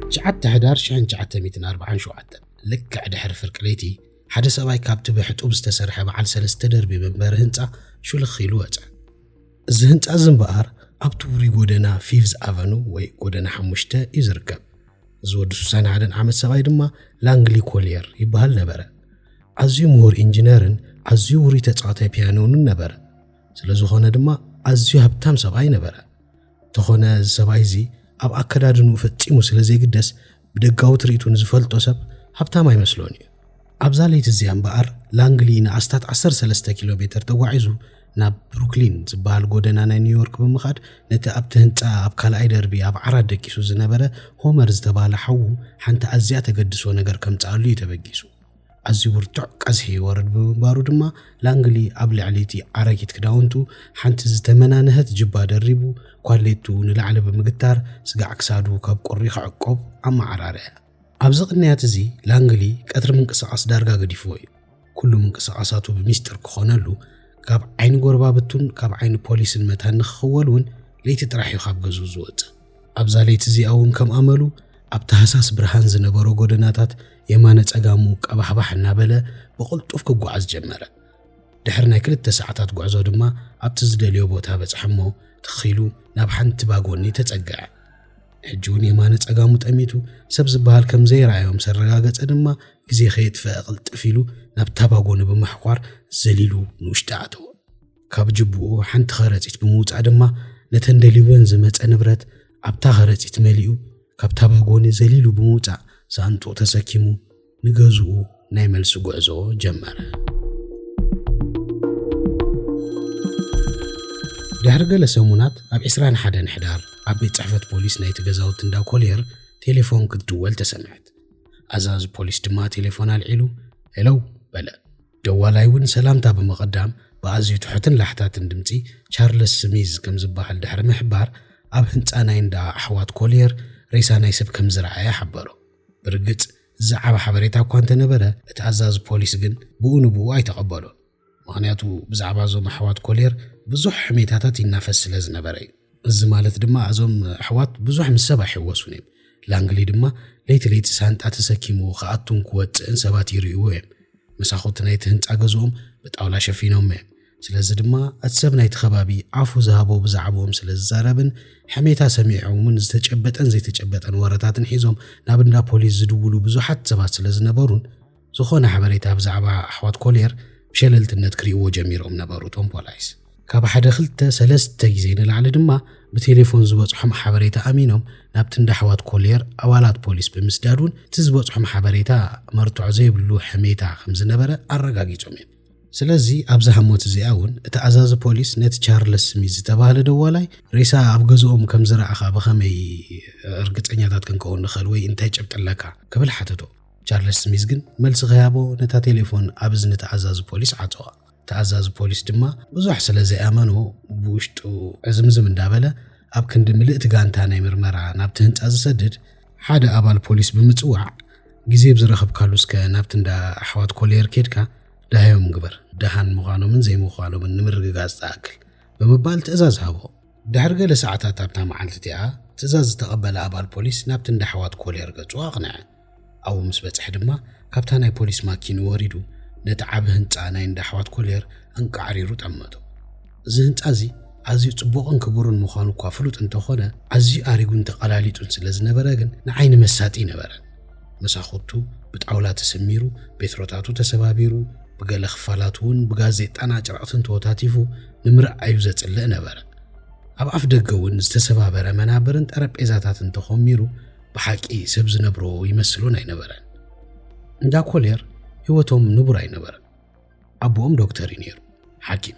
ትሽዓተ ሕዳር 1947 ልክዕ ድሕሪ ፍርቂ ለይቲ ሓደ ሰብኣይ ካብቲ ብሕጡብ ዝተሰርሐ በዓል ሰለስተ ደርቢ መንበሪ ህንፃ ሹልኽ ኢሉ ወፀ። እዚ ህንጻ እዚ እምበኣር ኣብቲ ውሩይ ጎደና ፊቭዝ ኣቨኑ ወይ ጎደና ሓሙሽተ እዩ ዝርከብ። እዚ ወዲ ሱሳን ሓደን ዓመት ሰብኣይ ድማ ላንግሊ ኮልየር ይበሃል ነበረ። ኣዝዩ ምሁር ኢንጂነርን ኣዝዩ ውሩይ ተጻዋታይ ፒያኖንን ነበረ። ስለ ዝኾነ ድማ ኣዝዩ ሃብታም ሰብኣይ ነበረ። ተኾነ እዚ ሰብኣይ እዚ ኣብ ኣከዳድንኡ ፈጺሙ ስለ ዘይግደስ ብደጋዊ ትርኢቱ ንዝፈልጦ ሰብ ሃብታም ኣይመስሎን እዩ። ኣብዛ ለይቲ እዚኣ እምበኣር ላንግሊ ንኣስታት ዓሰርተ ሰለስተ ኪሎ ሜተር ተጓዒዙ ናብ ብሩክሊን ዝበሃል ጎደና ናይ ኒውዮርክ ብምኻድ ነቲ ኣብቲ ህንጻ ኣብ ካልኣይ ደርቢ ኣብ ዓራት ደቂሱ ዝነበረ ሆመር ዝተባህለ ሓዉ ሓንቲ ኣዝያ ተገድሶ ነገር ከምጽኣሉ እዩ ተበጊሱ። ኣዝዩ ብርቱዕ ቀዝሒ ይወርድ ብምንባሩ ድማ ላንግሊ ኣብ ልዕሊ እቲ ኣረጊት ክዳውንቱ ሓንቲ ዝተመናንሀት ጅባ ደሪቡ ኳሌቱ ንላዕሊ ብምግታር ስጋዕ ክሳዱ ካብ ቁሪ ክዕቆብ ኣመዓራርዐ። ኣብዚ ቅንያት እዚ ላንግሊ ቀትሪ ምንቅስቓስ ዳርጋ ገዲፍዎ እዩ። ኩሉ ምንቅስቓሳቱ ብሚስጥር ክኾነሉ፣ ካብ ዓይኒ ጎረባብቱን ካብ ዓይኒ ፖሊስን መታን ንክኽወል እውን ለይቲ ጥራሕ እዩ ካብ ገዝኡ ዝወጽእ። ኣብዛ ለይቲ እዚኣ'ውን ከም ኣመሉ ኣብ ታህሳስ ብርሃን ዝነበሮ ጎደናታት የማነ ጸጋሙ ቀባሕባሕ እናበለ ብቕልጡፍ ክጓዓዝ ጀመረ። ድሕሪ ናይ ክልተ ሰዓታት ጉዕዞ ድማ ኣብቲ ዝደልዮ ቦታ በጽሐ'ሞ ትኽ ኢሉ ናብ ሓንቲ ባጎኒ ተጸግዐ። ሕጂ'ውን የማነ ጸጋሙ ጠሚቱ ሰብ ዝበሃል ከም ዘይረኣዮ ምስ ኣረጋገጸ ድማ ግዜ ከየጥፈኣ ቅልጥፍ ኢሉ ናብታ ባጎኒ ብምሕኳር ዘሊሉ ንውሽጢ ኣተወ። ካብ ጅብኡ ሓንቲ ኸረጺት ብምውጻእ ድማ ነተን ደልዩወን ዝመጸ ንብረት ኣብታ ኸረጺት መሊኡ ካብታ ባጎኒ ዘሊሉ ብምውጻእ ሳንጡቕ ተሰኪሙ ንገዝኡ ናይ መልሲ ጉዕዞ ጀመረ። ድሕሪ ገለ ሰሙናት ኣብ 21 ሕዳር ኣብ ቤት ጽሕፈት ፖሊስ ናይቲ ገዛውቲ እንዳ ኮልየር ቴሌፎን ክትድወል ተሰምዐት። ኣዛዚ ፖሊስ ድማ ቴሌፎን ኣልዒሉ ሄለው በለ። ደዋላይ እውን ሰላምታ ብምቕዳም ብኣዝዩ ትሑትን ላሕታትን ድምጺ ቻርለስ ስሚዝ ከም ዝበሃል ድሕሪ ምሕባር፣ ኣብ ህንጻ ናይ እንዳ ኣሕዋት ኮልየር ሬሳ ናይ ሰብ ከም ዝረኣየ ሓበሮ። ብርግጽ ዝዘዓበ ሓበሬታ እኳ እንተ ነበረ፣ እቲ ኣዛዚ ፖሊስ ግን ብኡ ንብኡ ኣይተቐበሎን። ምኽንያቱ ብዛዕባ እዞም ኣሕዋት ኮልየር ብዙሕ ሕሜታታት ይናፈስ ስለ ዝነበረ እዩ። እዚ ማለት ድማ እዞም ኣሕዋት ብዙሕ ምስ ሰብ ኣይሕወሱን እዮም። ላንግሊ ድማ ለይቲ ለይቲ ሳንጣ ተሰኪሙ ክኣቱን ክወፅእን ሰባት ይርእይዎ እዮም። መሳኹቲ ናይቲ ህንፃ ገዝኦም ብጣውላ ሸፊኖም እዮም። ስለዚ ድማ እቲ ሰብ ናይቲ ከባቢ ዓፉ ዝሃቦ ብዛዕብኦም ስለ ዝዛረብን ሕሜታ ሰሚዖምን ዝተጨበጠን ዘይተጨበጠን ወረታትን ሒዞም ናብ እንዳ ፖሊስ ዝድውሉ ብዙሓት ሰባት ስለ ዝነበሩን ዝኾነ ሓበሬታ ብዛዕባ ኣሕዋት ኮልየር ብሸለልትነት ክሪእዎ ጀሚሮም ነበሩ እቶም ፖላይስ። ካብ ሓደ ክልተ ሰለስተ ግዜ ንላዕሊ ድማ ብቴሌፎን ዝበጽሖም ሓበሬታ ኣሚኖም ናብቲ እንዳ ኣሕዋት ኮልየር ኣባላት ፖሊስ ብምስዳድ እውን እቲ ዝበጽሖም ሓበሬታ መርትዖ ዘይብሉ ሕሜታ ከም ዝነበረ ኣረጋጊጾም እዮም። ስለዚ ኣብዛ ህሞት እዚኣ እውን እቲ ኣዛዚ ፖሊስ ነቲ ቻርለስ ስሚዝ ዝተባህለ ደዋላይ ሬሳ ኣብ ገዝኦም ከም ዝረኣኻ ብኸመይ እርግጸኛታት ክንከውን ንኽእል ወይ እንታይ ጭብጢ ኣለካ ክብል ሓተቶ። ቻርለስ ስሚዝ ግን መልሲ ኺሃቦ ነታ ቴሌፎን ኣብ እዝኒ እቲ ኣዛዚ ፖሊስ ዓጸዋ። እቲ ኣዛዚ ፖሊስ ድማ ብዙሕ ስለ ዘይኣመኖ ብውሽጡ ዕዝምዝም እንዳበለ ኣብ ክንዲ ምልእቲ ጋንታ ናይ ምርመራ ናብቲ ህንጻ ዝሰድድ ሓደ ኣባል ፖሊስ ብምጽዋዕ ግዜ ብዝረኸብካሉ እስከ ናብቲ እንዳ ኣሕዋት ኮሌየር ኬድካ ዳህዮም ግበር ደሃን ምዃኖምን ዘይምዃኖምን ንምርግጋጽ ዝኣክል ብምባል ትእዛዝ ሃቦ። ድሕሪ ገለ ሰዓታት ኣብታ መዓልቲ እቲኣ ትእዛዝ ዝተቐበለ ኣባል ፖሊስ ናብቲ እንዳ ኣሕዋት ኮሌየር ገጹ ኣቕንዐ። ኣብኡ ምስ በጽሐ ድማ ካብታ ናይ ፖሊስ ማኪኑ ወሪዱ ነቲ ዓቢ ህንጻ ናይ እንዳ ኣሕዋት ኮልየር ኣንቃዕሪሩ ጠመቶ። እዚ ህንጻ እዚ ኣዝዩ ጽቡቕን ክቡርን ምዃኑ እኳ ፍሉጥ እንተኾነ ኣዝዩ ኣሪጉን ተቐላሊጡን ስለ ዝነበረ ግን ንዓይኒ መሳጢ ኣይነበረን። መሳኹቱ ብጣውላ ተሰሚሩ፣ ቤትሮታቱ ተሰባቢሩ፣ ብገለ ክፋላቱ እውን ብጋዜጣን ኣጭረቕትን ተወታቲፉ ንምርኣዩ ዘጽልእ ነበረ። ኣብ ኣፍ ደገ እውን ዝተሰባበረ መናብርን ጠረጴዛታትን ተኾሚሩ ብሓቂ ሰብ ዝነብሮ ይመስሎን ኣይነበረን። እንዳ ኮሌር ህይወቶም ንቡር ኣይነበረን። ኣቦኦም ዶክተር እዩ ነይሩ፣ ሓኪም።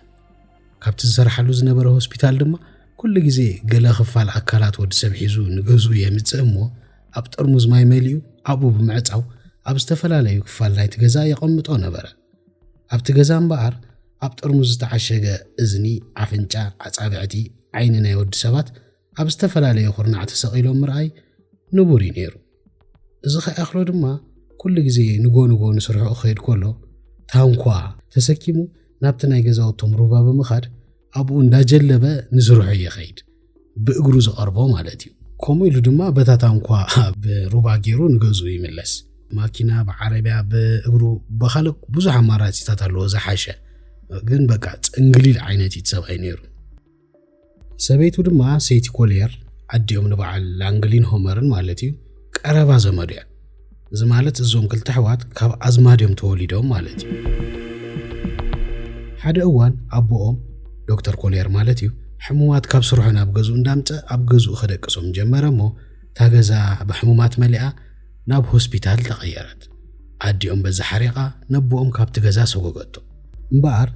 ካብቲ ዝሰርሓሉ ዝነበረ ሆስፒታል ድማ ኩሉ ግዜ ገለ ክፋል ኣካላት ወዲ ሰብ ሒዙ ንገዙ የምጽእ እሞ ኣብ ጥርሙዝ ማይ መሊኡ ኣብኡ ብምዕጻው ኣብ ዝተፈላለዩ ክፋል ናይቲ ገዛ የቐምጦ ነበረ። ኣብቲ ገዛ እምበኣር ኣብ ጥርሙዝ ዝተዓሸገ እዝኒ፣ ኣፍንጫ፣ ኣጻብዕቲ፣ ዓይኒ ናይ ወዲ ሰባት ኣብ ዝተፈላለየ ኩርናዕ ተሰቒሎም ምርኣይ ንቡር እዩ ነይሩ። እዚ ከይኣኽሎ ድማ ኩሉ ግዜ ንጎ ንጎ ንስርሑ ክኸይድ ከሎ ታንኳ ተሰኪሙ ናብቲ ናይ ገዛውቶም ሩባ ብምኻድ ኣብኡ እንዳጀለበ ንስርሑ ይኸይድ ብእግሩ ዝቐርቦ ማለት እዩ ከምኡ ኢሉ ድማ በታ ታንኳ ኣብ ሩባ ገይሩ ንገዙ ይምለስ ማኪና ብዓረብያ ብእግሩ ብካልእ ብዙሕ ኣማራፂታት ኣለዎ ዝሓሸ ግን በቃ ፅንግሊል ዓይነት እዩ ሰብኣይ ነይሩ ሰበይቱ ድማ ሰይቲ ኮልየር ኣዲኦም ንበዓል ላንግሊን ሆመርን ማለት እዩ ቀረባ ዘመዱ እያ እዚ ማለት እዞም ክልተ ኣሕዋት ካብ ኣዝማድ እዮም ተወሊዶም ማለት እዩ ሓደ እዋን ኣቦኦም ዶክተር ኮልየር ማለት እዩ ሕሙማት ካብ ስርሑ ናብ ገዝኡ እንዳምፀ ኣብ ገዝኡ ከደቅሶም ጀመረ እሞ እታ ገዛ ብሕሙማት መሊኣ ናብ ሆስፒታል ተቐየረት። ኣዲኦም በዚ ሓሪቓ ነቦኦም ካብቲ ገዛ ሰጎገቶ። እምበኣር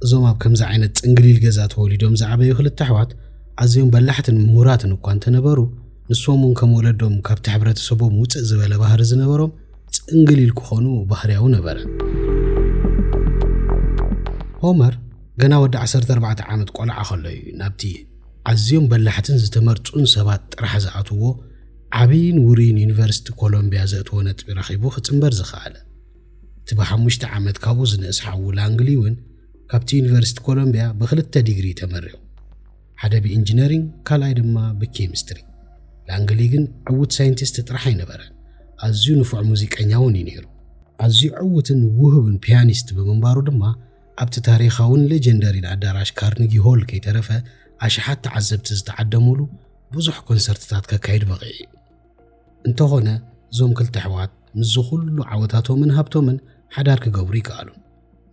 እዞም ኣብ ከምዚ ዓይነት ጽንግሊል ገዛ ተወሊዶም ዝዓበዩ ክልተ ኣሕዋት ኣዝዮም በላሕትን ምሁራትን እኳ እንተነበሩ ንሶም እውን ከም ወለዶም ካብቲ ሕብረተሰቦም ውጽእ ዝበለ ባህሪ ዝነበሮም ጽንግሊል ክኾኑ ባህርያዊ ነበረ። ሆመር ገና ወዲ 14 ዓመት ቆልዓ ከሎ እዩ ናብቲ ኣዝዮም በላሕትን ዝተመርጹን ሰባት ጥራሕ ዝኣትዎ ዓብይን ውሩይን ዩኒቨርሲቲ ኮሎምቢያ ዘእትዎ ነጥቢ ረኺቡ ክጽንበር ዝኸኣለ እቲ ብሓሙሽተ ዓመት ካብኡ ዝንእስ ሓዉ ላንግሊ እውን ካብቲ ዩኒቨርሲቲ ኮሎምቢያ ብክልተ ዲግሪ ተመሪቑ ሓደ ብኢንጂነሪንግ ካልኣይ ድማ ብኬሚስትሪ ላንግሊ ግን ዕውት ሳይንቲስት ጥራሕ ኣይነበረን ኣዝዩ ንፉዕ ሙዚቀኛ እውን እዩ ነይሩ ኣዝዩ ዕውትን ውህብን ፒያኒስት ብምንባሩ ድማ ኣብቲ ታሪኻውን ሌጀንደሪን ኣዳራሽ ካርኒጊ ሆል ከይተረፈ ኣሽሓት ተዓዘብቲ ዝተዓደሙሉ ብዙሕ ኮንሰርትታት ከካይድ በቒዑ እዩ። እንተኾነ እዞም ክልተ ኣሕዋት ምስዚ ኩሉ ዓወታቶምን ሃብቶምን ሓዳር ክገብሩ ይከኣሉን።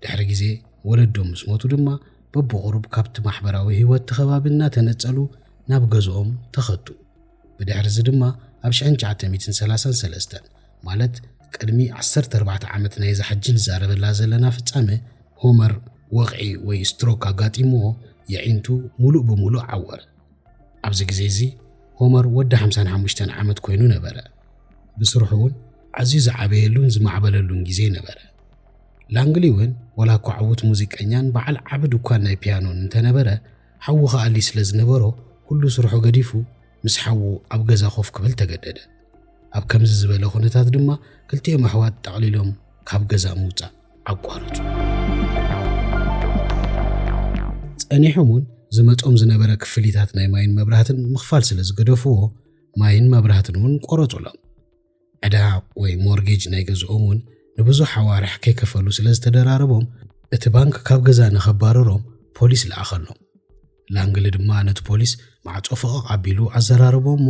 ድሕሪ ግዜ ወለዶም ምስ ሞቱ ድማ በብቑሩብ ካብቲ ማሕበራዊ ህይወት እቲ ከባቢ እናተነጸሉ ናብ ገዝኦም ተኸቱ። ብድሕሪ እዚ ድማ ኣብ 1933 ማለት ቅድሚ 14 ዓመት ናይዛ ሕጂ ንዛረበላ ዘለና ፍጻመ ሆመር ወቕዒ ወይ ስትሮክ ኣጋጢምዎ የዒንቱ ምሉእ ብምሉእ ዓወረ። ኣብዚ ግዜ እዚ ሆመር ወዲ ሓምሳን ሓሙሽተን ዓመት ኮይኑ ነበረ። ብስርሑ እውን ኣዝዩ ዝዓበየሉን ዝማዕበለሉን ግዜ ነበረ። ላንግሊ እውን ዋላ እኳ ዕዉት ሙዚቀኛን በዓል ዓቢ ድኳን ናይ ፒያኖን እንተነበረ ሓዉ ከኣሊ ስለ ዝነበሮ ኩሉ ስርሑ ገዲፉ ምስ ሓዉ ኣብ ገዛ ኮፍ ክብል ተገደደ። ኣብ ከምዚ ዝበለ ኩነታት ድማ ክልቲኦም ኣሕዋት ጠቕሊሎም ካብ ገዛ ምውጻእ ኣቋረጹ። ጸኒሖም እውን ዝመጾም ዝነበረ ክፍሊታት ናይ ማይን መብራህትን ምኽፋል ስለ ዝገደፍዎ ማይን መብራህትን እውን ቆረጹሎም። ዕዳ ወይ ሞርጌጅ ናይ ገዝኦም እውን ንብዙሕ ኣዋርሕ ከይከፈሉ ስለ ዝተደራረቦም እቲ ባንክ ካብ ገዛ ንኸባረሮም ፖሊስ ለኣኸሎም። ላንግሊ ድማ ነቲ ፖሊስ ማዕጾ ፈቐቕ ኣቢሉ ኣዘራረቦ እሞ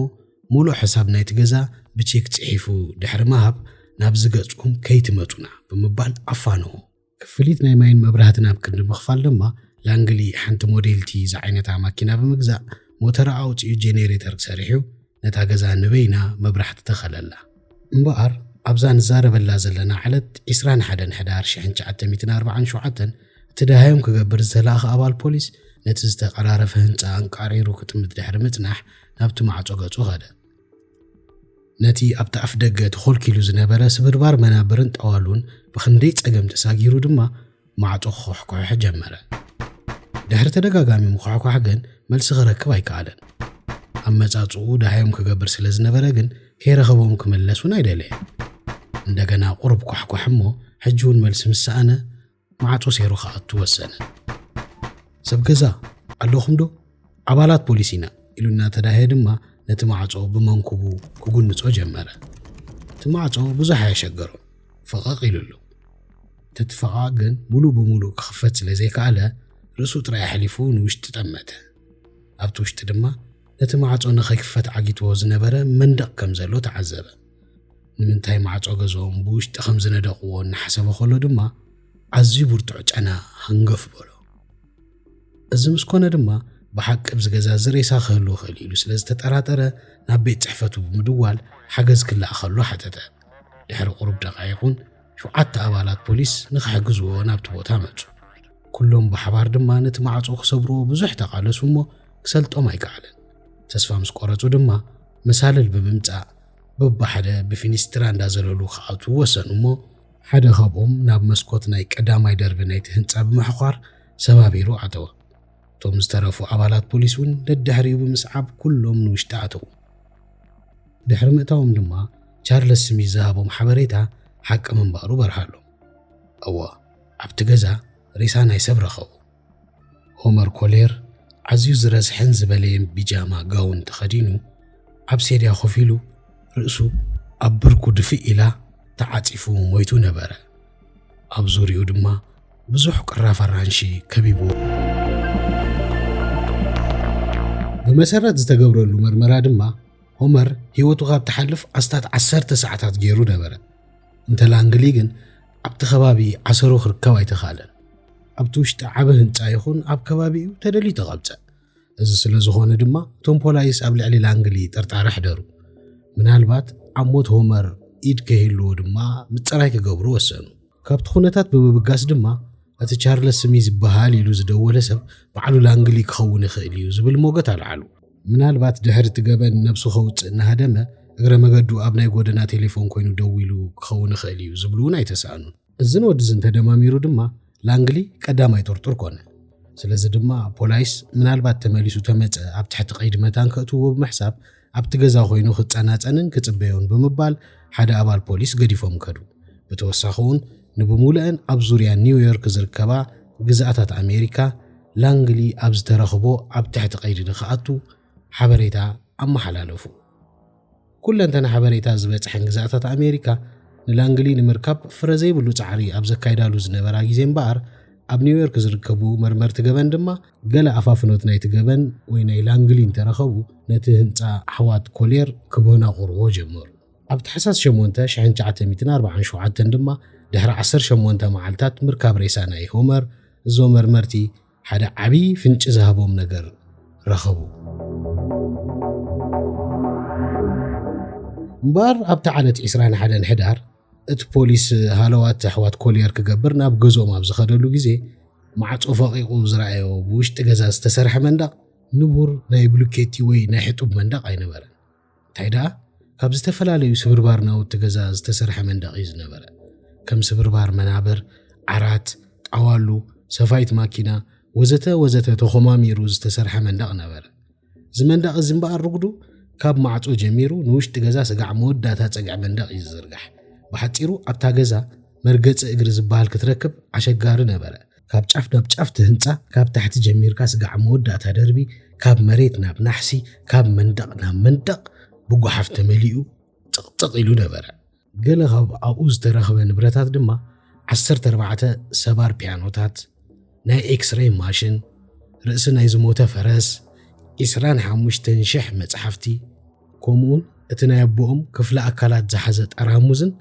ሙሉእ ሕሳብ ናይቲ ገዛ ብቼክ ጽሒፉ ድሕሪ ምሃብ ናብዚ ገጽኩም ከይትመጹና ብምባል ኣፋነዎ። ክፍሊት ናይ ማይን መብራህትን ኣብ ክንዲ ምኽፋል ድማ ላንግሊ ሓንቲ ሞዴል ቲ ዝዓይነታ ማኪና ብምግዛእ ሞተራ ኣውጺኡ ጄኔሬተር ሰሪሑ ነታ ገዛ ንበይና መብራህቲ ተኸለላ። እምበኣር ኣብዛ ንዛረበላ ዘለና ዕለት ዕስራን ሓደን ሕዳር ሽሕን ትሽዓተ ሚእትን ኣርብዓን ሸውዓተን እቲ ደሃዮም ክገብር ዝተላእኸ ኣባል ፖሊስ ነቲ ዝተቐራረፈ ህንጻ ኣንቃዕሪሩ ክጥምት ድሕሪ ምጽናሕ ናብቲ ማዕጾ ገጹ ከደ። ነቲ ኣብቲ ኣፍ ደገ ተኾልኪሉ ዝነበረ ስብርባር መናብርን ጠዋሉን ብኽንደይ ጸገም ተሳጊሩ ድማ ማዕጾ ክኹሕኩሕ ጀመረ። ድሕሪ ተደጋጋሚ ምኹሕኳሕ ግን መልሲ ክረክብ ኣይከኣለን። ኣመጻጽኡ ዳህዮም ክገብር ስለ ዝነበረ ግን ከይረኸቦም ክምለስ እውን ኣይደለየን። እንደገና ቁሩብ ኳሕኳሕ እሞ ሕጂ እውን መልሲ ምስ ሰኣነ ማዕጾ ሴሩ ክኣቱ ወሰነ። ሰብ ገዛ ኣለኹም ዶ? ኣባላት ፖሊስ ኢና ኢሉ እናተዳህየ ድማ ነቲ ማዕጾ ብመንኩቡ ክጉንጾ ጀመረ። እቲ ማዕጾ ብዙሕ ኣየሸገሮ ፈቐቕ ኢሉሉ። ተቲ ፈቓቕ ግን ሙሉ ብሙሉ ክኽፈት ስለ ዘይከኣለ ርእሱ ጥራይ ኣሕሊፉ ንውሽጢ ጠመተ። ኣብቲ ውሽጢ ድማ ነቲ ማዕጾ ንኸይክፈት ዓጊትዎ ዝነበረ መንደቕ ከም ዘሎ ተዓዘበ። ንምንታይ ማዕጾ ገዝኦም ብውሽጢ ከም ዝነደቕዎ እናሓሰበ ከሎ ድማ ኣዝዩ ብርቱዕ ጨና ሃንገፍ በሎ። እዚ ምስ ኮነ ድማ ብሓቂ ኣብዚ ገዛ እዚ ሬሳ ክህሉ ይኽእል እዩ ኢሉ ስለ ዝተጠራጠረ ናብ ቤት ጽሕፈቱ ብምድዋል ሓገዝ ክለኣኸሉ ሓተተ። ድሕሪ ቁሩብ ደቓይቑን ሸውዓተ ኣባላት ፖሊስ ንኽሕግዝዎ ናብቲ ቦታ መጹ። ኩሎም ብሓባር ድማ ነቲ ማዕጾ ክሰብርዎ ብዙሕ ተቓለሱ እሞ ክሰልጦም ኣይከኣለን። ተስፋ ምስ ቆረጹ ድማ መሳልል ብምምጻእ በብሓደ ብፊኒስትራ እንዳዘለሉ ክኣትዉ ወሰኑ እሞ ሓደ ካብኦም ናብ መስኮት ናይ ቀዳማይ ደርቢ ናይቲ ህንጻ ብምሕዃር ሰባቢሩ ኣተወ። እቶም ዝተረፉ ኣባላት ፖሊስ እውን ደድሕሪኡ ብምስዓብ ኩሎም ንውሽጢ ኣተዉ። ድሕሪ ምእታዎም ድማ ቻርለስ ስሚዝ ዝሃቦም ሓበሬታ ሓቂ ምንባሩ በርሃሎም። እወ፣ ኣብቲ ገዛ ሬሳ ናይ ሰብ ረኸቡ። ሆመር ኮሌር ኣዝዩ ዝረስሐን ዝበለየን ቢጃማ ጋውን ተኸዲኑ ኣብ ሴድያ ኮፍ ኢሉ ርእሱ ኣብ ብርኩ ድፍእ ኢላ ተዓጺፉ ሞይቱ ነበረ። ኣብ ዙርያኡ ድማ ብዙሕ ቅራፍ ኣራንሺ ከቢብዎ። ብመሰረት ዝተገብረሉ መርመራ ድማ ሆመር ህይወቱ ካብ ትሓልፍ ኣስታት ዓሰርተ ሰዓታት ገይሩ ነበረ። እንተ ላንግሊ ግን ኣብቲ ከባቢ ዓሰሩ ክርከብ ኣይተኻእለን። ኣብቲ ውሽጢ ዓበ ህንፃ ይኹን ኣብ ከባቢኡ ተደልዩ ተቐብፀ። እዚ ስለ ዝኾነ ድማ እቶም ፖላይስ ኣብ ልዕሊ ላንግሊ ጥርጣረ ሕደሩ። ምናልባት ኣብ ሞት ሆመር ኢድ ከይህልዎ ድማ ምፅራይ ክገብሩ ወሰኑ። ካብቲ ኩነታት ብምብጋስ ድማ እቲ ቻርለስ ስሚ ዝበሃል ኢሉ ዝደወለ ሰብ ባዕሉ ላንግሊ ክኸውን ይኽእል እዩ ዝብል ሞገት ኣልዓሉ። ምናልባት ድሕሪ እቲ ገበን ነብሱ ከውጽእ እናሃደመ እግረ መገዱ ኣብ ናይ ጎደና ቴሌፎን ኮይኑ ደዊሉ ክኸውን ይኽእል እዩ ዝብሉ እውን ኣይተሳእኑን። እዝን ወድዝን ተደማሚሩ ድማ ላንግሊ ቀዳማይ ጥርጡር ኮነ። ስለዚ ድማ ፖላይስ ምናልባት ተመሊሱ ተመጸ ኣብ ትሕቲ ቀይዲ መታን ከእትውዎ ብምሕሳብ ኣብቲ ገዛ ኮይኑ ክጸናጸንን ክጽበዮን ብምባል ሓደ ኣባል ፖሊስ ገዲፎም ከዱ። ብተወሳኺ'ውን ንብምሉኤን ኣብ ዙርያ ኒውዮርክ ዝርከባ ግዝኣታት ኣሜሪካ ላንግሊ ኣብ ዝተረኽቦ ኣብ ትሕቲ ቀይዲ ንክኣቱ ሓበሬታ ኣመሓላለፉ። ኩለንተና ሓበሬታ ዝበጽሐን ግዝኣታት ኣሜሪካ ንላንግሊ ንምርካብ ፍረ ዘይብሉ ጻዕሪ ኣብ ዘካይዳሉ ዝነበራ ግዜ እምበኣር ኣብ ኒውዮርክ ዝርከቡ መርመርቲ ገበን ድማ ገለ ኣፋፍኖት ናይቲ ገበን ወይ ናይ ላንግሊ እንተረኸቡ ነቲ ህንጻ ኣሕዋት ኮሌር ክብህና ክቕርብዎ ጀመሩ። ኣብ ታሕሳስ ሸሞንተ ሽሕን ትሽዓተ ሚእትን ኣርብዓን ሸውዓተን ድማ ድሕሪ ዓሰርተ ሸሞንተ መዓልታት ምርካብ ሬሳ ናይ ሆመር እዞ መርመርቲ ሓደ ዓቢ ፍንጪ ዝሃቦም ነገር ረኸቡ። እምበኣር ኣብታ ዓለት ዕስራን ሓደን ሕዳር እቲ ፖሊስ ሃለዋት ኣሕዋት ኮልየር ክገብር ናብ ገዝኦም ኣብ ዝኸደሉ ግዜ፣ ማዕጾ ፈቒቑ ዝረኣዮ ብውሽጢ ገዛ ዝተሰርሐ መንደቕ ንቡር ናይ ብሉኬቲ ወይ ናይ ሕጡብ መንደቕ ኣይነበረን። እንታይ ደኣ ካብ ዝተፈላለዩ ስብርባር ናውቲ ገዛ ዝተሰርሐ መንደቕ እዩ ዝነበረ። ከም ስብርባር መናብር፣ ዓራት፣ ጣዋሉ፣ ሰፋይት ማኪና፣ ወዘተ ወዘተ ተኾማሚሩ ዝተሰርሐ መንደቕ ነበረ። እዚ መንደቕ እዚ እምበኣር ርጉዱ ካብ ማዕጾ ጀሚሩ ንውሽጢ ገዛ ስጋዕ መወዳእታ ጸግዒ መንደቕ እዩ ዝዝርጋሕ። ብሓጺሩ ኣብታ ገዛ መርገጺ እግሪ ዝበሃል ክትረክብ ኣሸጋሪ ነበረ። ካብ ጫፍ ናብ ጫፍ እቲ ህንጻ ካብ ታሕቲ ጀሚርካ ስጋዕ መወዳእታ ደርቢ ካብ መሬት ናብ ናሕሲ ካብ መንደቕ ናብ መንደቕ ብጓሓፍ ተመሊኡ ጥቕጥቕ ኢሉ ነበረ። ገለ ካብ ኣብኡ ዝተረኽበ ንብረታት ድማ ዓሰርተ ኣርባዕተ ሰባር ፒያኖታት፣ ናይ ኤክስረይ ማሽን፣ ርእሲ ናይ ዝሞተ ፈረስ፣ ዒስራን ሓሙሽተን ሽሕ መጽሓፍቲ፣ ከምኡውን እቲ ናይ ኣቦኦም ክፍለ ኣካላት ዝሓዘ ጠራሙዝን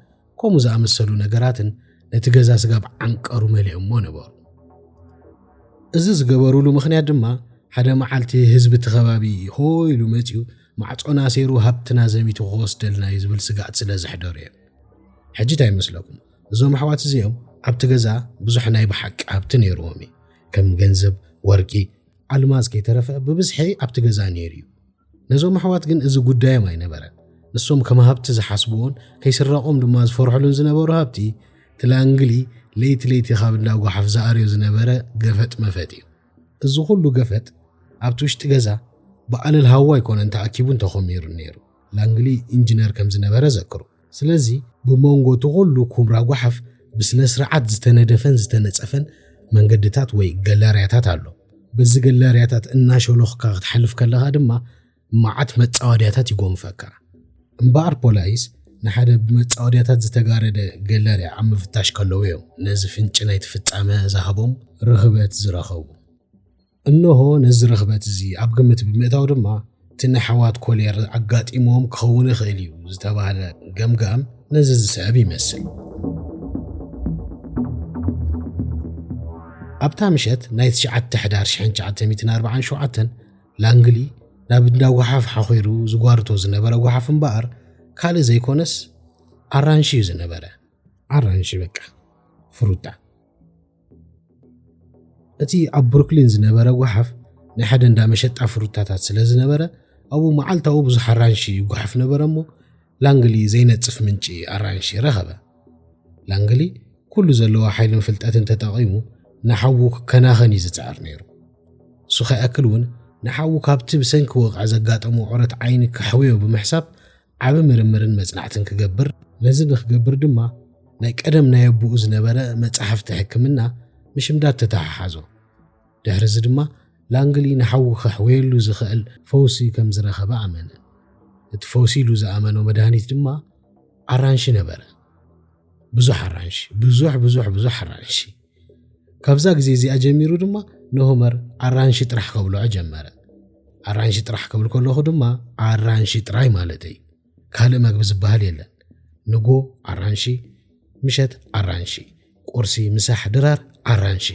ከምኡ ዝኣመሰሉ ነገራትን ነቲ ገዛ ስጋብ ዓንቀሩ መሊኦሞ ነበሩ። እዚ ዝገበሩሉ ምኽንያት ድማ ሓደ መዓልቲ ህዝቢ እቲ ከባቢ ሆ ኢሉ መጺኡ ማዕጾና ኣሴሩ ሃብትና ዘሚቱ ክወስደልና እዩ ዝብል ስግኣት ስለ ዘሕደሩ እዮም። ሕጂ እንታይ ይመስለኩም? እዞም ኣሕዋት እዚኦም ኣብቲ ገዛ ብዙሕ ናይ ብሓቂ ሃብቲ ነይርዎም እዩ። ከም ገንዘብ፣ ወርቂ፣ ኣልማዝ ከይተረፈ ብብዝሒ ኣብቲ ገዛ ነይሩ እዩ። ነዞም ኣሕዋት ግን እዚ ጉዳዮም ኣይነበረን። ንሶም ከም ሃብቲ ዝሓስብዎን ከይስረቆም ድማ ዝፈርሕሉን ዝነበሩ ሃብቲ ትላንግሊ ለይቲ ለይቲ ካብ እንዳ ጓሓፍ ዝኣርዮ ዝነበረ ገፈጥ መፈጥ እዩ። እዚ ኩሉ ገፈጥ ኣብቲ ውሽጢ ገዛ ብኣለል ሃዋ ኣይኮነን ተኣኪቡን ተኾሚሩን ነይሩ። ላንግሊ ኢንጅነር ከም ዝነበረ ዘክሩ። ስለዚ ብሞንጎ እቲ ኩሉ ኩምራ ጓሓፍ ብስነስርዓት ዝተነደፈን ዝተነጸፈን መንገድታት ወይ ገላርያታት ኣሎ። በዚ ገላርያታት እናሾሎኽካ ክትሓልፍ ከለኻ ድማ መዓት መጻወድያታት ይጎንፈካ። እምበኣር ፖላይስ ንሓደ ብመጻወድያታት ዝተጋረደ ገለርያ ኣብ ምፍታሽ ከለዉ እዮም ነዚ ፍንጪ ናይቲ ፍጻመ ዝሃቦም ርኽበት ዝረኸቡ። እንሆ ነዚ ርኽበት እዚ ኣብ ግምት ብምእታው ድማ እቲ ንኣሕዋት ኮልየር ኣጋጢምዎም ክኸውን ይኽእል እዩ ዝተባህለ ገምጋም ነዚ ዝስዕብ ይመስል። ኣብታ ምሸት ናይ ትሽዓተ ሕዳር ሽሕን ትሽዓተ ሚእትን ኣርብዓን ሸውዓተን፣ ላንግሊ ናብ እንዳ ጓሓፍ ሓኺሩ ዝጓርቶ ዝነበረ ጓሓፍ እምበኣር ካልእ ዘይኮነስ ኣራንሺ እዩ ዝነበረ። ኣራንሺ በቃ ፍሩታ። እቲ ኣብ ብሩክሊን ዝነበረ ጓሓፍ ናይ ሓደ እንዳ መሸጣ ፍሩታታት ስለ ዝነበረ ኣብኡ መዓልታዊ ብዙሕ ኣራንሺ ይጓሓፍ ነበረ እሞ ላንግሊ ዘይነጽፍ ምንጪ ኣራንሺ ረኸበ። ላንግሊ ኩሉ ዘለዎ ሓይልን ፍልጠትን ተጠቒሙ ንሓዉ ክከናኸን እዩ ዝጽዕር ነይሩ። እሱ ከይኣክል እውን ንሓዉ ካብቲ ብሰንኪ ወቕዒ ዘጋጠሞ ዑረት ዓይኒ ከሕውዮ ብምሕሳብ ዓቢ ምርምርን መጽናዕትን ክገብር ነዚ ንክገብር ድማ ናይ ቀደም ናይ ኣቦኡ ዝነበረ መጻሕፍቲ ሕክምና ምሽምዳድ ተተሓሓዞ። ድሕርዚ ድማ ላንግሊ ንሓዉ ከሕወየሉ ዝኸእል ፈውሲ ከም ዝረኸበ ኣመነ። እቲ ፈውሲ ኢሉ ዝኣመኖ መድሃኒት ድማ ኣራንሺ ነበረ። ብዙሕ ኣራንሺ፣ ብዙሕ ብዙሕ ብዙሕ ኣራንሺ። ካብዛ ግዜ እዚኣ ጀሚሩ ድማ ንሆመር ኣራንሺ ጥራሕ ከብልዖ ጀመረ። ኣራንሺ ጥራሕ ክብል ከለኹ ድማ ኣራንሺ ጥራይ ማለት እዩ። ካልእ መግቢ ዝበሃል የለን። ንጎ ኣራንሺ፣ ምሸት ኣራንሺ። ቁርሲ፣ ምሳሕ ድራር ኣራንሺ።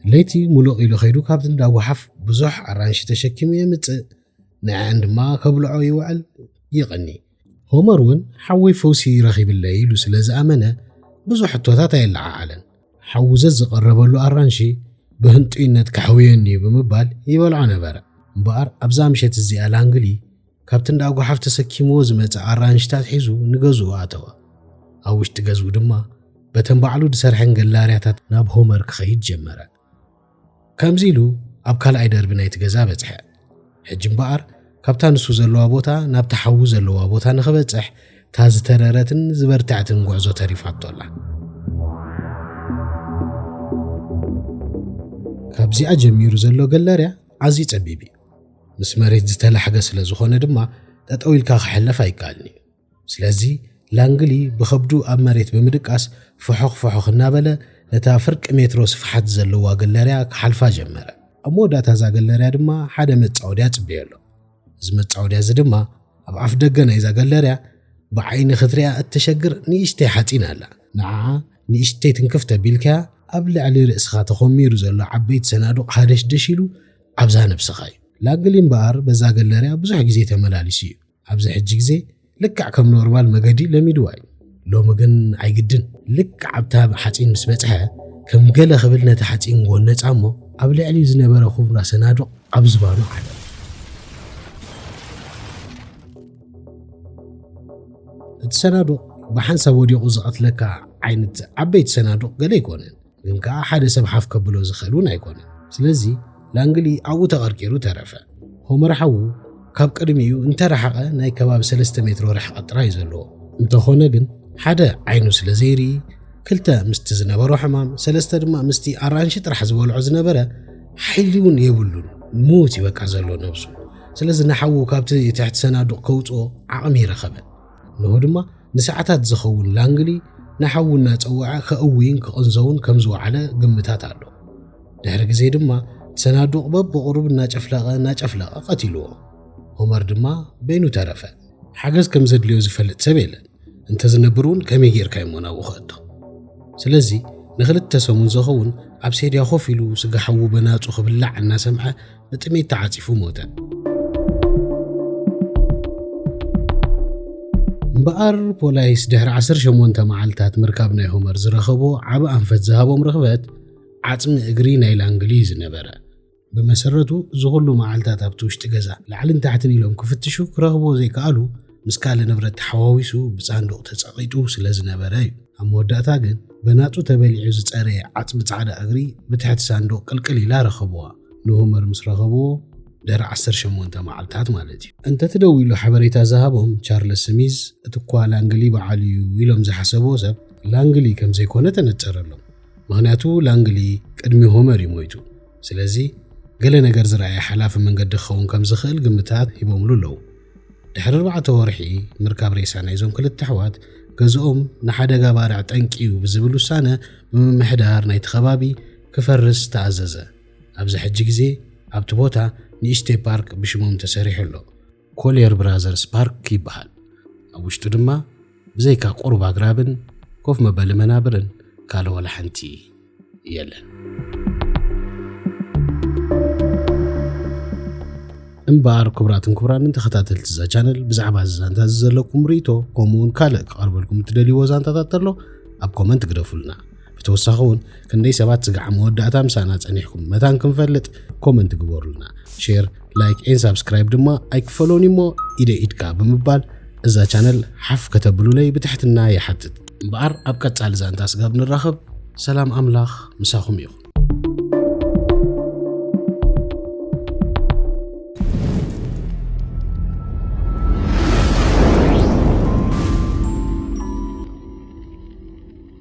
ለይቲ ሙሉቕ ኢሉ ከይዱ ካብቲ እንዳ ጓሓፍ ብዙሕ ኣራንሺ ተሸኪሙ የምጽእ፣ ንዐዐን ድማ ከብልዖ ይውዕል ይቕኒ። ሆመር እውን ሓወይ ፈውሲ ረኺብለይ ኢሉ ስለ ዝኣመነ ብዙሕ ሕቶታት ኣየለዓዓለን። ሓዉ ዘዝቐረበሉ ኣራንሺ ብህንጡይነት ከሕውየኒ እዩ ብምባል ይበልዖ ነበረ። እምበኣር ኣብዛ ምሸት እዚኣ ላንግሊ ካብቲ እንዳ ጓሓፍ ተሰኪምዎ ዝመጸ ኣራንሽታት ሒዙ ንገዝኡ ኣተወ። ኣብ ውሽጢ ገዝኡ ድማ በተን ባዕሉ ዝሰርሐን ገላርያታት ናብ ሆመር ክኸይድ ጀመረ። ከምዚ ኢሉ ኣብ ካልኣይ ደርቢ ናይቲ ገዛ በጽሐ። ሕጂ እምበኣር ካብታ ንሱ ዘለዋ ቦታ ናብታ ሓዊ ዘለዋ ቦታ ንኽበጽሕ እታ ዝተረረትን ዝበርትዐትን ጉዕዞ ተሪፋቶ ኣላ። ካብዚኣ ጀሚሩ ዘሎ ገላርያ ኣዝዩ ጸቢብ እዩ። ምስ መሬት ዝተላሕገ ስለ ዝኾነ ድማ ጠጠው ኢልካ ክሕለፍ ኣይከኣልን እዩ። ስለዚ ላንግሊ ብኸብዱ ኣብ መሬት ብምድቃስ ፈሖኽ ፈሖኽ እናበለ ነታ ፍርቂ ሜትሮ ስፍሓት ዘለዋ ገለርያ ክሓልፋ ጀመረ። ኣብ መወዳእታ እዛ ገለርያ ድማ ሓደ መጻወድያ ጽበዮ ኣሎ። እዚ መጻወድያ እዚ ድማ ኣብ ኣፍ ደገ ናይዛ ገለርያ ብዓይኒ ክትሪኣ እተሸግር ንእሽተይ ሓጺን ኣላ። ንዓ ንእሽተይ ትንክፍ ተቢልካያ ኣብ ልዕሊ ርእስኻ ተኾሚሩ ዘሎ ዓበይቲ ሰናዱቕ ሃደሽደሽ ኢሉ ኣብዛ ነብስኻ እዩ። ላግሊ እምበኣር በዛ ገለርያ ብዙሕ ግዜ ተመላሊሱ እዩ። ኣብዚ ሕጂ ግዜ ልክዕ ከም ኖርማል መገዲ ለሚድዋ እዩ። ሎሚ ግን ኣይግድን። ልክዕ ኣብታ ሓጺን ምስ በጽሐ ከም ገለ ክብል ነቲ ሓጺን ጎነጻ እሞ ኣብ ልዕሊኡ ዝነበረ ኩብራ ሰናዱቕ ኣብ ዝባኑ ዓለቐ። እቲ ሰናዱቕ ብሓንሳብ ወዲቑ ዝቐትለካ ዓይነት ዓበይቲ ሰናዱቕ ገለ ኣይኮነን። ግን ከኣ ሓደ ሰብ ሓፍ ከብሎ ዝኽእል እውን ኣይኮነን። ስለዚ ላንግሊ ኣብኡ ተቐርቂሩ ተረፈ። ሆመር ሓዉ ካብ ቅድሚኡ እንተ ረሓቐ ናይ ከባቢ ሰለስተ ሜትሮ ርሕቐት ጥራይ እዩ ዘለዎ። እንተኾነ ግን ሓደ ዓይኑ ስለ ዘይርኢ፣ ክልተ ምስቲ ዝነበሮ ሕማም፣ ሰለስተ ድማ ምስቲ ኣራንሺ ጥራሕ ዝበልዖ ዝነበረ ሓይሊ እውን የብሉን። ምዉት እዩ በቃ ዘሎ ነብሱ። ስለዚ ንሓዉ ካብቲ ትሕቲ ሰናዱቕ ከውጽኦ ዓቕሚ ረኸበ። እነሆ ድማ ንሰዓታት ዝኸውን ላንግሊ ንሓዉ እናጸወዐ ከእውይን ክቕንዘውን ከም ዝወዓለ ግምታት ኣሎ። ድሕሪ ግዜ ድማ ሰናዱቕ በብቑሩብ እናጨፍለቐ እናጨፍለቐ ቀቲልዎ። ሆመር ድማ በይኑ ተረፈ። ሓገዝ ከም ዘድልዮ ዝፈልጥ ሰብ የለን። እንተ ዝነብር እውን ከመይ ጌርካ እዩሞ ናብኡ ክእቶ? ስለዚ ንኽልተ ሰሙን ዘኸውን ኣብ ሴድያ ኮፍ ኢሉ ስጋ ሓዉ በናጹ ክብላዕ እናሰምዐ ብጥሜት ተዓጺፉ ሞተ። እምበኣር ፖላይስ ድሕሪ 18 መዓልታት ምርካብ ናይ ሆመር ዝረኸቦ ዓብ ኣንፈት ዝሃቦም ርኽበት ዓጽሚ እግሪ ናይ ላንግሊ እዩ ዝነበረ። ብመሰረቱ እዚ ኩሉ መዓልታት ኣብቲ ውሽጢ ገዛ ላዕልን ታሕትን ኢሎም ክፍትሹ ክረኽብዎ ዘይከኣሉ ምስ ካልእ ንብረት ተሓዋዊሱ ብሳንዱቕ ተጸቒጡ ስለ ዝነበረ እዩ። ኣብ መወዳእታ ግን በናጹ ተበሊዑ ዝጸረየ ዓጽሚ ጻዕዳ እግሪ ብትሕቲ ሳንዱቕ ቅልቅል ኢላ ረኸብዋ። ንሆመር ምስ ረኸብዎ ድሕሪ ዓሰርተ ሸሞንተ መዓልታት ማለት እዩ። እንተትደዊሉ ሓበሬታ ዝሃቦም ቻርለስ ስሚዝ እቲ እኳ ላንግሊ በዓሉ እዩ ኢሎም ዝሓሰብዎ ሰብ ላንግሊ ከም ዘይኮነ ተነጸረሎም። ምኽንያቱ ላንግሊ ቅድሚ ሆመር እዩ ሞይቱ። ስለዚ ገለ ነገር ዝረኣየ ሓላፊ መንገዲ ክኸውን ከም ዝኽእል ግምታት ሂቦምሉ ኣለዉ። ድሕሪ ኣርባዕተ ወርሒ ምርካብ ሬሳ ናይዞም ክልተ ኣሕዋት፣ ገዝኦም ንሓደጋ ባርዕ ጠንቂ'ዩ ብዝብል ውሳነ ብምምሕዳር ናይቲ ከባቢ ክፈርስ ተኣዘዘ። ኣብዚ ሕጂ ግዜ ኣብቲ ቦታ ንእሽተይ ፓርክ ብሽሞም ተሰሪሑ ኣሎ። ኮልየር ብራዘርስ ፓርክ ይበሃል። ኣብ ውሽጡ ድማ ብዘይካ ቁሩብ ኣግራብን ኮፍ መበሊ መናብርን ካልእ ዋላ ሓንቲ የለን። እምበኣር ክቡራትን ክቡራንን ተኸታተልቲ እዛ ቻነል ብዛዕባ እዚ ዛንታ እዚ ዘለኩም ርእይቶ ከምኡውን ካልእ ክቐርበልኩም እትደልይዎ ዛንታታት ተሎ ኣብ ኮመንት ግደፉልና። ብተወሳኺ እውን ክንደይ ሰባት ስጋዕ መወዳእታ ምሳና ጸኒሕኩም መታን ክንፈልጥ ኮመንት ግበሩልና ሼር ላይክ ኤን ሳብስክራይብ ድማ ኣይክፈሎን እሞ ኢደ ኢድካ ብምባል እዛ ቻነል ሓፍ ከተብሉለይ ብትሕትና ይሓትት እምበኣር ኣብ ቀጻሊ ዛንታ ስጋብ ንራኸብ ሰላም ኣምላኽ ምሳኹም ይኹን